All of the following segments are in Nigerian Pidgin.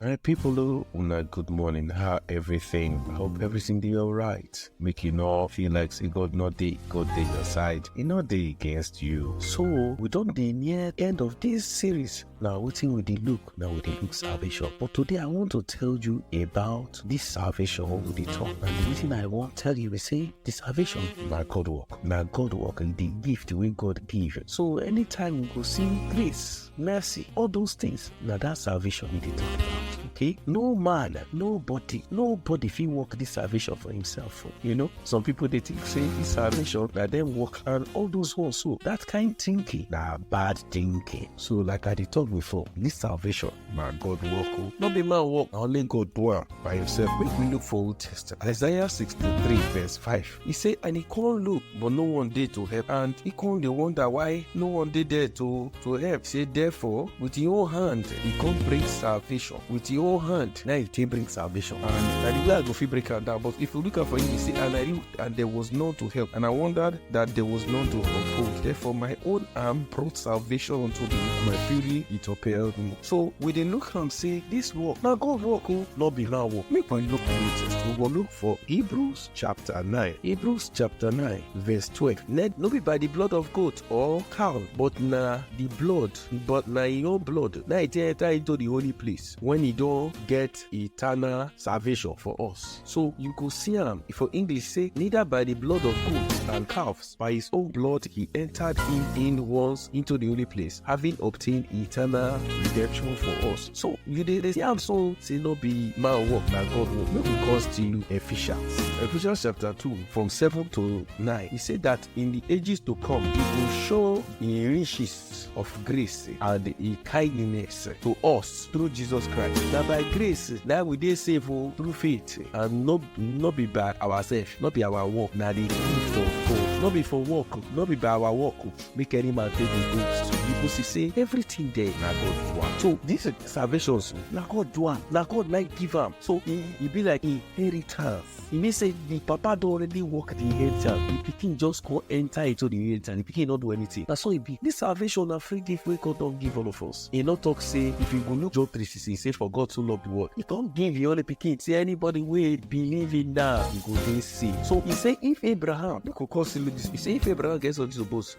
All right, people, oh, una good morning. How everything? I hope everything dey alright. Make you no feel like say God no dey, God dey your side. He no dey against you. So we don dey near end of this series. Na wetin we dey look? Na we dey look salvation. But today I want to tell you about this salvation wey we dey talk. And the reason I wan tell you be say the salvation na God work. Na God work and the gift wey God give. So anytime we go see grace, mercy, all those things. Now that salvation he did okay no man nobody nobody fit work this salvation for himself oh. you know some people they think say this salvation that then work and all those ones so that kind thinking na bad thinking so like i did talk before this salvation my god work o oh. no be man work only god do by himself make we look for old testament isaiah 63 verse 5 He say, and he come look, but no one dey to help. And he come dey wonder why no one dey there to to help. Say, therefore, with his own hand, he come bring salvation. With his own hand, now he take bring salvation. And na the way I go fit break am down. But if you look out for him, he say, and I re- and there was none to help. And I wondered that there was none to uphold. Therefore, my own arm brought salvation unto me. and My fury it upheld me. So we dey look am say this work na God work o, no be man work. Make we look for latest. We go look for Hebrews chapter 9. Hebrews chapter 9 verse 12. Let no be by the blood of goat or cow, but na the blood, but na e own blood. Na e take enter into the holy place when e don get eternal salvation for us. So you go see am for English say neither by the blood of goats and calves By his own blood he entered him in once into the holy place, having obtained eternal redemption for us. So you dey dey see am so say no be man work na God work. Make we come still Ephesians. Ephesians chapter two from seven to nine. He say that in the ages to come he go show him riches gift of grace and e kindness to us through Jesus Christ. Na by grace na we dey save o through faith and no no be by ourselves, no be our work, na the gift of God. No be for work, no be by our work, make any man take the goods. Because see say everything there na God do am. So this salvation na God do am, na God na give am. So e e be like inheritance. e mean say the papa don already work the inheritance the pikin just come enter into the inheritance the pikin no do anything na so e be this salvation na free gift wey God don give all of us e no talk say if you go look John three sixteen say for God so love the world he come give him only pikin say anybody wey believe in am go dey saved so he say if Abraham no go come see this he say if Abraham get something to boast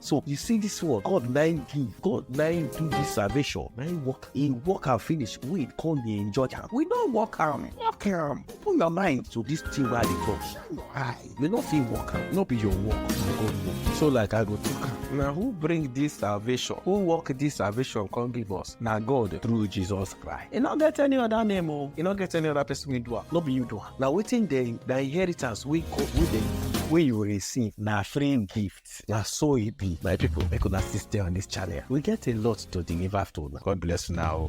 So you see this one, God nine give, God nine do this salvation, nine work, he work and finish, we come dey enjoy am. We no work am, work am. Open your mind to this thing wey I dey talk. Shine your eye. You no fit work am, no be your work, na God work. So like I go talk am, na who bring this salvation? Who work this salvation come give us? Na God through Jesus Christ. E no get any other name o, e no get any other person wey do am, no be you do am. Na wetin dey, na inheritance wey God, wey dey, wey you receive, na free gift. na so e be my people make una still stay on this channel we get a lot to deliver to una god bless una o.